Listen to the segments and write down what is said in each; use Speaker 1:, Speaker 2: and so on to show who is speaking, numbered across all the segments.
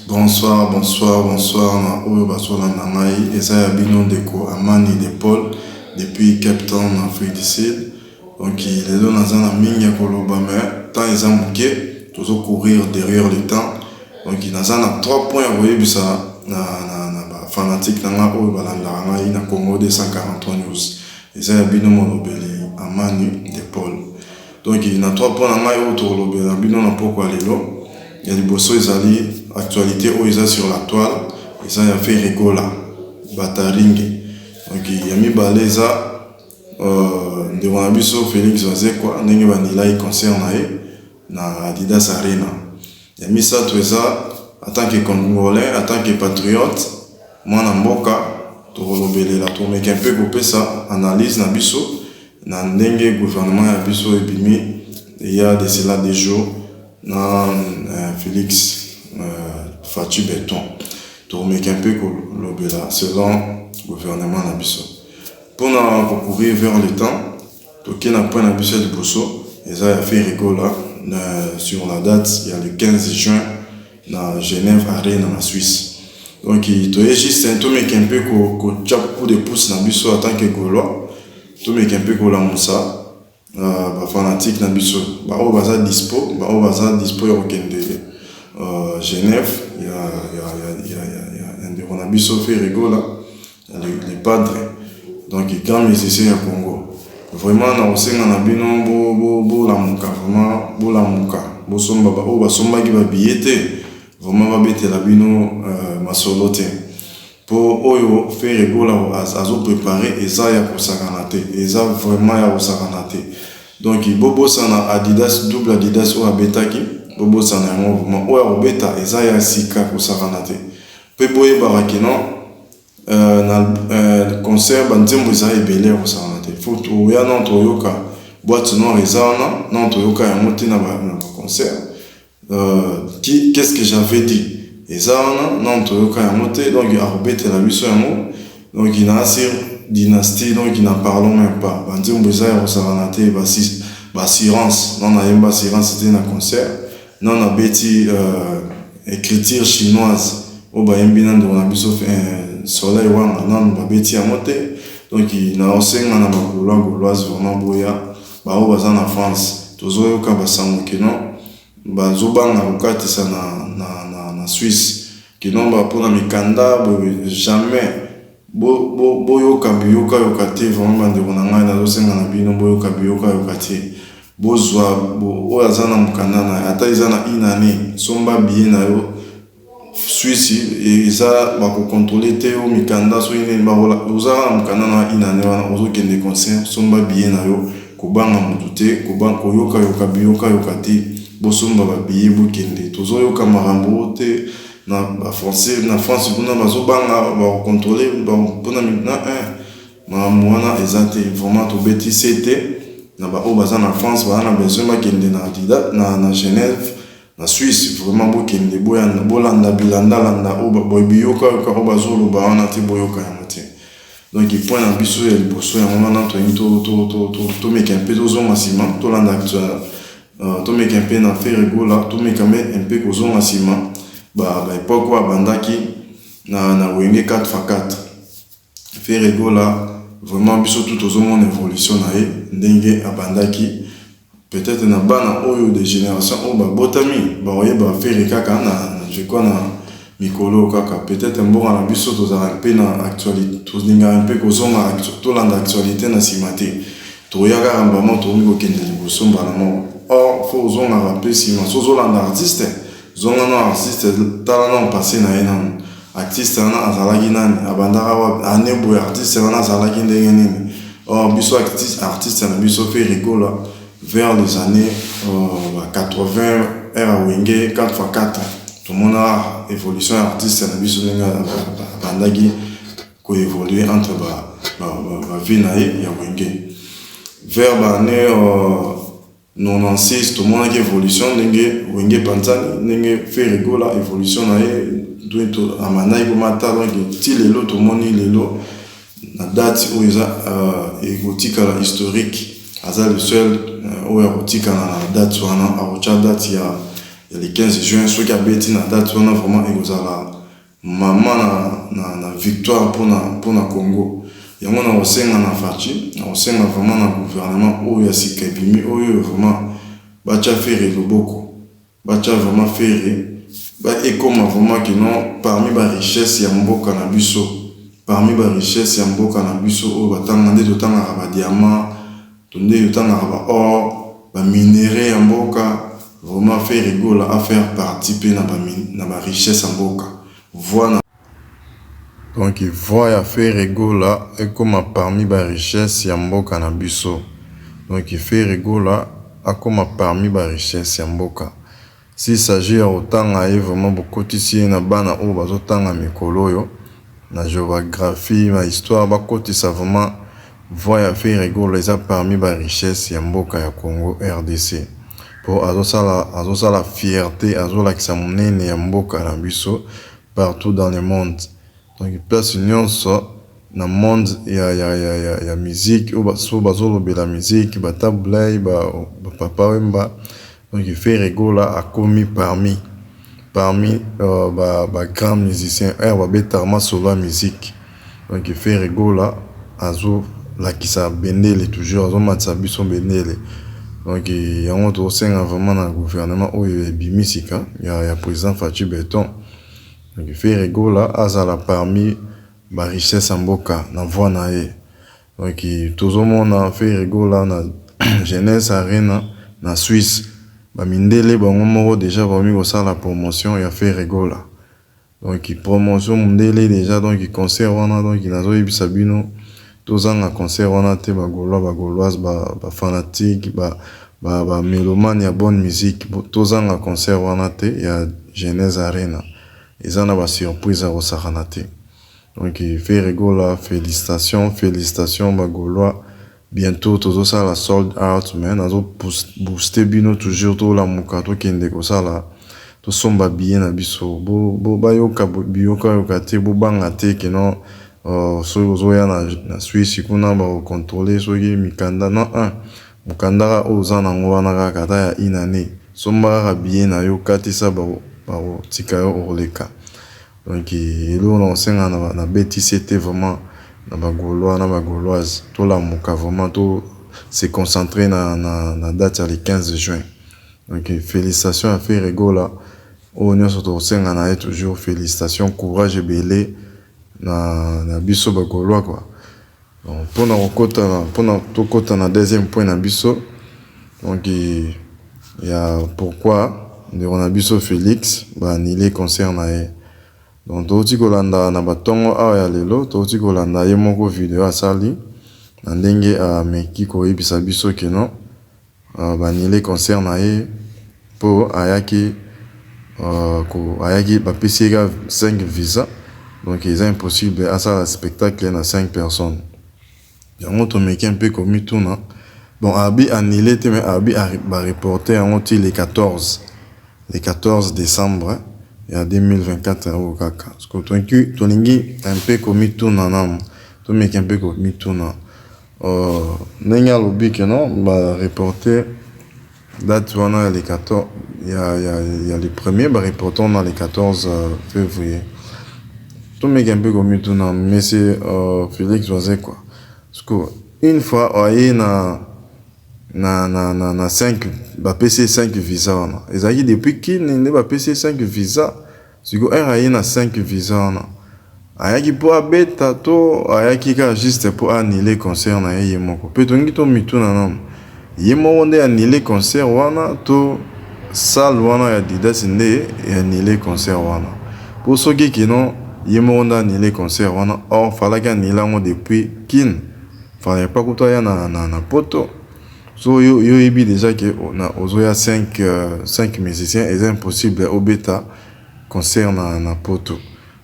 Speaker 1: Bonsoir bonsoir bonsoir na oyo bazolanda ngai eza ya bino ndeko amani de Paul depuis cape town na afrique du sud donc lelo naza na mingi ya koloba me temps eza moke tozo courir derrière le temps donc naza na trois points ya koyebisa na, na, na bafanatique na ngai oyo balandaka ngai na congo 243 news eza ya bino molobeli amani de Paul Donc na trois points na ngai oyo tokolobela bino na pokwa lelo, ya liboso ezali actualite oyo eza sur la toile, eza ya Ferre Gola Bataringe. Donc ya mibale eza euh, ndeko na biso Felix Wazekwa ndenge banilai concert na ye na Adidas Arena. Ya misato eza en tant que congolais, en tant que patriote, mwana mboka, tokolobelela, tokomeka un peu kopesa analyse na biso na ndenge gouvernement ya biso ebimi il ya de cela deux jours na Felix Fatshi Beton. Tokomeka un peu kolobela selon gouvernement na biso. Pona ko courir vers le temps, Toke na point na biso ya liboso eza ya Ferre Gola na sur la date ya le 15 juin na Genève Arena na Suisse. Donc toye juste tomeke un peu ko ko tia coup de pouce na biso en tant que Golois, tomeke un peu ko lamusa uh, ba fanatique na biso ba oyo baza dispo, ba oyo baza dispo ya kokende uh, Genève ya ya ya ya, ya, ya, ya ndeko na biso Ferre Gola le padre donc grand musicien ya Congo vraiment na kosenga na bino bo bo bolamuka vraiment bolamuka bosomba ba oyo basombaki ba billet te vraiment babetela bino euh, masolo te po oyo Ferre Gola azo prepare eza ya kosakana te eza vraiment ya kosakana te donc bobosana Adidas double Adidas oyo abetaki bobosana yango vraiment oyo akobeta eza ya sika kosakana te Pe boyebaka que non euh, na euh, concert ba nzembo eza ebele ya kosangana te. Faut oya non toyoka boîte noire eza wana non toyoka yango te na ba concert. Euh, qui qu'est-ce que j'avais dit eza wana non toyoka yango te donc akobetela biso yango donc na asi dynastie donc na parlons même pas ba nzembo eza ya kosangana te ba assurance non nayemba assurance te na concert Non na beti ecriture chinoise oyo ba yembi na ndeko na biso soleil wanga nanu ba beti yango te donc nao senga na ba golois goloise vraiment boya ba oyo baza na France tozo yoka ba sango que non ba zo banga ko katisa na na na Suisse que non ba pona mikanda boye jamais Bo bo boyoka biyoka yoka te vraiment ba ndeko na ngai nazo senga na bino boyoka biyoka yoka te bozua bo oyo aza na mukanda na ata eza na une annee somba billet na yo suisse eza ba ko controler te yo mikanda soki nini ba kola oza kaka na mukanda na une annee wana ozo kende concert somba billet na yo kobanga mutu te koba koyoka yoka biyoka yoka te bosomba ba billet bokende tozo yoka makambo oyo te Na ba français na France kuna bazo banga ba controler pona migna eh makambo wana eza te vraiment tobeti sete na ba oyo baza na France baza na besoin bakende na dida na na Genève na Suisse vraiment bokende boyanda bolanda bilanda landa oyo ba biyoka yoka oyo bazo loba wana te boyoka yango te donc point na biso ya liboso yango wana toyini to to to to to meka mpe tozonga sima tolanda Uh, tomeki un peu na Ferre Gola, tomeka me un peu kozonga sima ba ba epoque oyo abandaki na na Wenge 4 fa 4. Ferre Gola vraiment biso tout tozomona evolution na ye ndenge abandaki peut-être na bana oyo de génération oyo babotami baoyeba Ferre kaka na je crois na Mikolo oyo kaka peut etre mboka na biso tozalaka mpe na actualite tolingaka mpe kozonga tolanda actualite na sima te toya kaka mbala moko tokomi kokende liboso mbala moko or faut ozongaka mpe sima soki ozolanda artiste zonga nanu artiste tala nanu passe na ye nanu artiste wana azalaki nani abandaka wapi annee boye artiste wana azalaki ndenge nini or biso artiste na biso Ferre Gola vers les annees ba 80 heure ya wenge 4x4 tomona evolution ya artiste na biso ndenge abandaki ko evoluer entre ba ba vie na ye ya wenge vers ba annee 96 tomonaki evolution ndenge wenge epanzani ndenge ferre gola evolution na ye amandaki komata donc ti lelo tomoni lelo na date oyo eza ekotikala historique aza le seul oyo akotikala na date wana akotia date ya ya le 15 juin soki abeti na date wana vraiment ekozala mama na, na, na victoire mpona mpona congo yango na kosenga na faci na kosenga vraiment na gouvernement oyo ya sika ebimi oyo vraiment batia ferre loboko Batia vraiment Ferre ba ekoma vraiment que non parmi ba richesse ya mboka na biso parmi ba richesse ya mboka na biso oyo batanga nde totangaka ba diamant tonde totangaka ba or ba minerais ya mboka vraiment Ferre Gola a faire partie pe na ba richesse ya mboka voix na Donc voix ya ferre gola ekoma parmi ba richesse ya mboka na biso donc ferre gola akoma parmi ba richesse ya mboka s'il s'agit ya kotanga ye vraiment bokotisi ye na bana oyo bazotanga mikolo oyo na geographie na histoire bakotisa vraiment voix ya ferre gola eza parmi ba richesse ya mboka ya congo rdc po azosala azosala fierte azolakisa monene ya mboka na biso partout dans le monde donc place nionso na monde ya ya ya ya musique oyo basusu bazo lobela musique ba tabu ley ba papa wemba donc ferre gola akomi parmi parmi ba ba grand musicien heure ba betaka masolo ya musique Donc ferre gola azo lakisa bendele toujours azo matisa biso bendele donc yango tozo senga vraiment na gouvernement oyo ebimi sika ya president Fatshi beton donc ferre gola azala parmi ba richesse ya mboka na voix na ye donc tozo mona ferre gola na jeunesse arena na suisse ba mindele bango moko dejà bakomi kosala promotion ya ferre gola Donc promotion mundele dejà donc concert wana donc nazo yebisa bino tozanga concert wana te ba golois ba goloise ba fanatique ba ba melomane ya bonne musique tozanga concert wana te ya genese arena eza na ba surprise ya kosakana te donc ferre gola felicitation felicitation ba golois Bientot tozo sala sold out mais nazo booster bino toujours to lamuka to kende ko sala to somba billet na biso bo ba yoka biyoka yoka te bo banga te que non soki ozo ya na Suisse kuna ba ko controler soki mikanda non un mukanda kaka oyo oza nango wana kaka ata ya une annee somba kaka billet nayo katisa ba ko tika yo oleka. Donc eloko nako senga na BTC te vraiment na ba golois na ba goloise to lamuka vraiment to se concentre na date ya le 15 juin donc felicitation ya ferre gola oyo nionso toko senga na ye toujours felicitation courage ebele na biso ba golois quoi. Donc pona kokota na pona tokota na deuxième point na biso donc ya pourquoi ndeko na biso Felix ba annule concert na ye donc touti kolanda na batongo awa ya lelo touti kolanda ye moko video asali na ndenge ameki koyebisa biso keno Ba annule concert na ye po ayaki ko ayaki ba pesi ye kaka cinq visa donc eza impossible asala spectacle na cinq personnes yango to meki un peu ko mituna bon arbi annule te mais arbi ba reporte yango ti le 14 le 14 decembre ya 2024 oyo kaka sikoyo to lingi un peu ko mituna nanu to meki un peu ko mituna Ndenge alobi que non ba reporter date wana ya le 14 ya le premier ba reporter yango na le 14 fevrier tomeka mpe komituna monsieur Felix Wazekwa sikoyo une fois aye na na 5 ba pesi ye 5 visa wana ezalaki depuis Kin nde ba pesi ye 5 visa? Sikoyo heure aye na cinq visa wana ayaki po abeta to ayaki kaka juste po a annuler concert na ye ye moko? Pe tolingi to mituna nanu ye moko nde a annuler concert wana to salle wana ya Adidas nde e annuler concert wana? Po soki que non ye moko nde a annuler concert wana or falaki a annuler yango depuis Kin, fallait pas kutu aya na poto. So yo oyebi dejà que ozo ya 5 musiciens eza impossible obeta concert na poto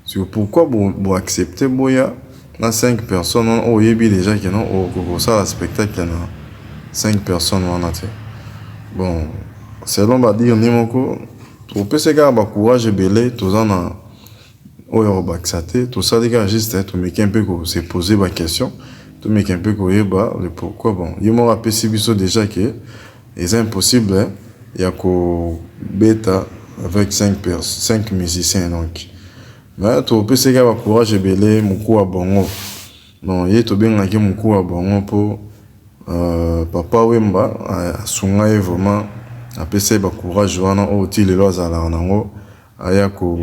Speaker 1: sikoyo pourquoi bo accepte boya na 5 personnes wana oyo oyebi dejà que non okoki kosala spectacle na 5 personnes wana te bon selon ba dire ni moko topese kaka ba courage ebele toza na Oyo ya kobakisa te, tosali kaka juste tomeke un peu ko se poser ba questions, tomeke un peu koyeba le pourquoi. Bon, ye moko apesi biso dejà que eza impossible ya kobeta avec cinq pers, cinq musiciens donc. Mais topesa ye kaka ba courage ebele, mukua ya bongo. Donc ye tobengaki mukua ya bongo mpo Papa Wemba asunga ye vraiment, apesa ye ba courage wana oyo ti lelo azalaka na yango. Aya ko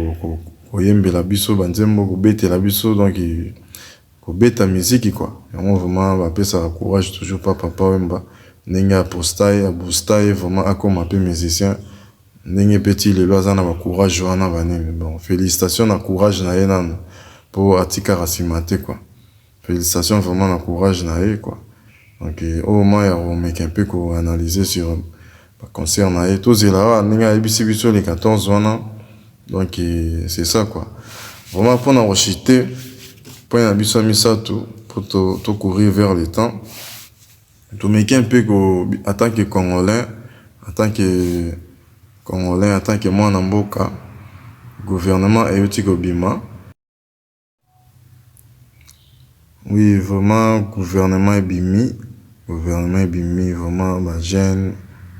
Speaker 1: koyembela biso ba nzembo kobetela biso donc kobeta miziki quoi yango vraiment ba pesaka courage toujours pa papa wemba ndenge a posta ye a bousta ye vraiment akoma pe musicien ndenge pe ti lelo aza na ba courage wana ba nini bon felicitation na courage na ye nanu po atikaka sima te quoi. Felicitations vraiment na courage na ye quoi donc oyo moment ya ko meka un peu ko analyser sur ba concert na ye tozela awa ndenge ayebisi biso le 14 wana donc c'est ça quoi vraiment pona ko chute point na biso ya misatu po to to courir vers le temps to meki un peu ko en tant que congolais en tant que congolais en tant que mwana mboka gouvernement ewuti kobima Oui vraiment gouvernement ebimi, gouvernement ebimi vraiment ba jeunes,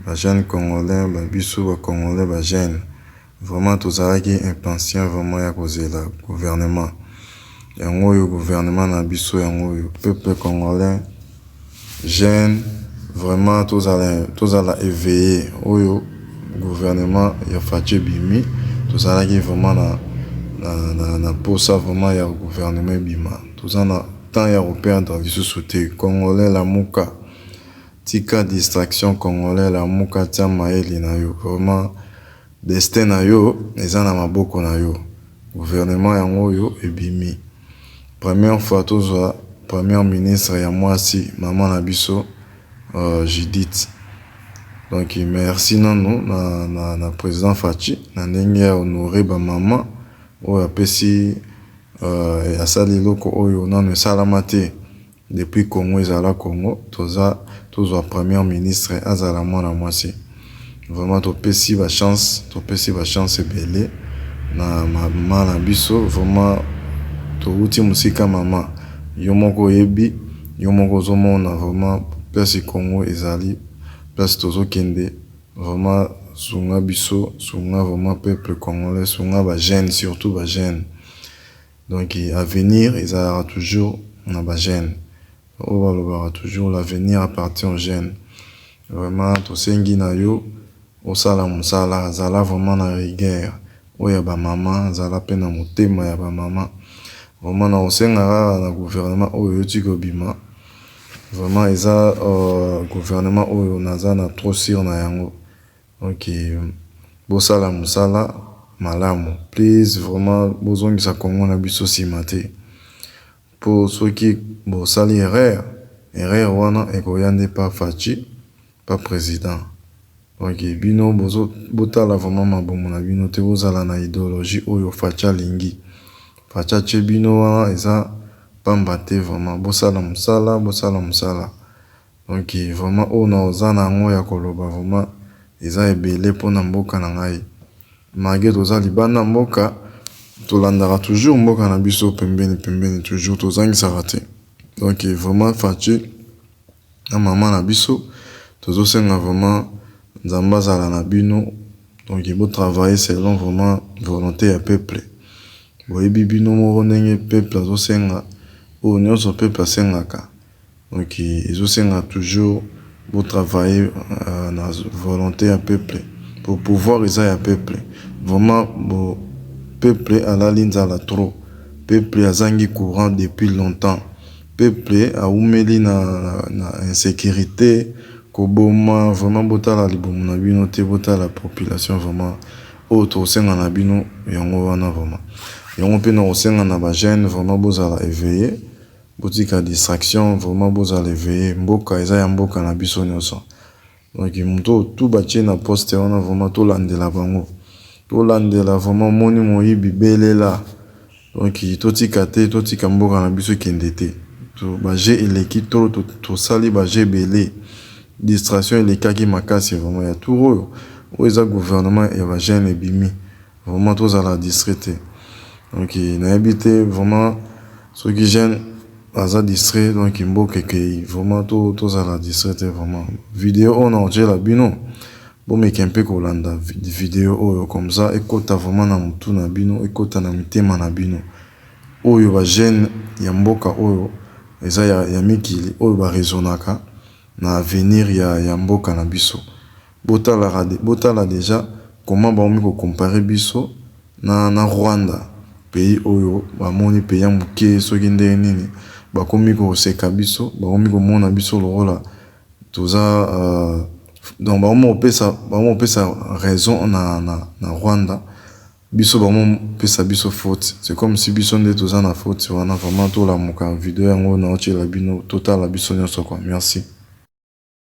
Speaker 1: ba jeunes congolais ba biso ba congolais ba jeunes vraiment tozalaki impatient vraiment ya kozela gouvernement yango oyo gouvernement na biso yango oyo peuple congolais. Jeune vraiment tozala tozala eveille oyo gouvernement ya fatshi ebimi tozalaki vraiment na na na posa vraiment ya gouvernement ebima toza na temps ya koperdre lisusu te congolais lamuka tika distraction congolais lamuka tia mayele na yo vraiment. Destin na yo eza na maboko na yo gouvernement yango oyo ebimi première fois tozwa première ministre ya muasi maman na biso Judith donc merci nanu na president Fatshi na ndenge a honore ba maman oyo apesi asali eloko oyo nanu esalama te. Depuis Congo ezala Congo toza tozua première ministre azala mwana mwasi vraiment topesi ba chance topesi ba chance ebele na maman na biso vraiment towuti musika maman yo moko oyebi yo moko ozomona vraiment place Congo ezali place tozokende vraiment sunga biso sunga vraiment peuple congolais sunga ba jeune surtout ba jeune. Donc avenir ezalaka toujours na ba jeunes oyo balobaka toujours l'avenir appartient aux jeunes vraiment tosengi na yo osala musala zala vraiment na rigueur oyo ya ba maman zala pe na motema ya ba maman vraiment na kosenga kaka na gouvernement oyo ewuti kobima vraiment eza gouvernement oyo naza na trop sur na yango. Ok bosala musala malamu please vraiment bozongisa congo na biso sima te po soki bosali erreur erreur wana ekoya nde pa fatshi pa president ok bino bozo botala vraiment mabumu na bino te bozala na ideologie oyo fatshi alingi fatshi atie bino wana eza pamba te vraiment bosala musala bosala musala Donc vraiment oyo na oza na yango ya ko loba vraiment eza ebele po na mboka na ngai malgre toza libanda mboka to landaka toujours mboka na biso pembeni pembeni toujours to zangisaka te donc vraiment Fatshi na maman na biso tozo senga vraiment Nzambe azala na bino donc bo travailler selon vraiment volonte ya peuple boyebi bino moko ndenge peuple azo senga oyo nionso peuple asengaka. Donc ezo senga toujours bo travailler na volonte ya peuple po pouvoir eza ya peuple vraiment bo peuple alali nzala trop peuple azangi courant depuis longtemps peuple awumeli na insecurite koboma vraiment botala libumu na bino te botala population vraiment oyo toko senga na bino yango wana vraiment yango pe nako senga na ba jeune vraiment bozala eveille Botika distraction vraiment bozala eveille mboka eza ya mboka na biso nioso donc mutu oyo tout batie na poste wana vraiment tolandela bango tolandela vraiment omoni moyibi belela donc totika te totika mboka na biso ekende te ba jeux eleki trop tosali ba jeux ebele distraction elekaki makasi vraiment ya tour oyo oyo eza gouvernement ya ba jeune ebimi Vraiment tozala distrait te donc nayebi te vraiment soki jeune aza distrait donc mboka ekeyi vraiment to tozala distrait te vraiment video oyo naotiela bino bomeke mpe kolanda video oyo comme ça ekota vraiment na mutu na bino ekota na mitema na bino oyo ba jeune ya mboka oyo eza ya mikili oyo ba raisonaka na avenir ya ya mboka na biso Botalaka botala dejà comment bakomi ko comparer biso na na Rwanda pays oyo ba moni pays ya muke soki ndenge nini bakomi ko seka biso bakomi ko mona biso lokola toza donc bakomi ko pesa bakomi ko pesa raison na na Rwanda biso bakomi ko pesa biso faute c'est comme si biso nde toza na faute wana vraiment tolamuka video yango nao tiela bino totala biso nionso quoi merci.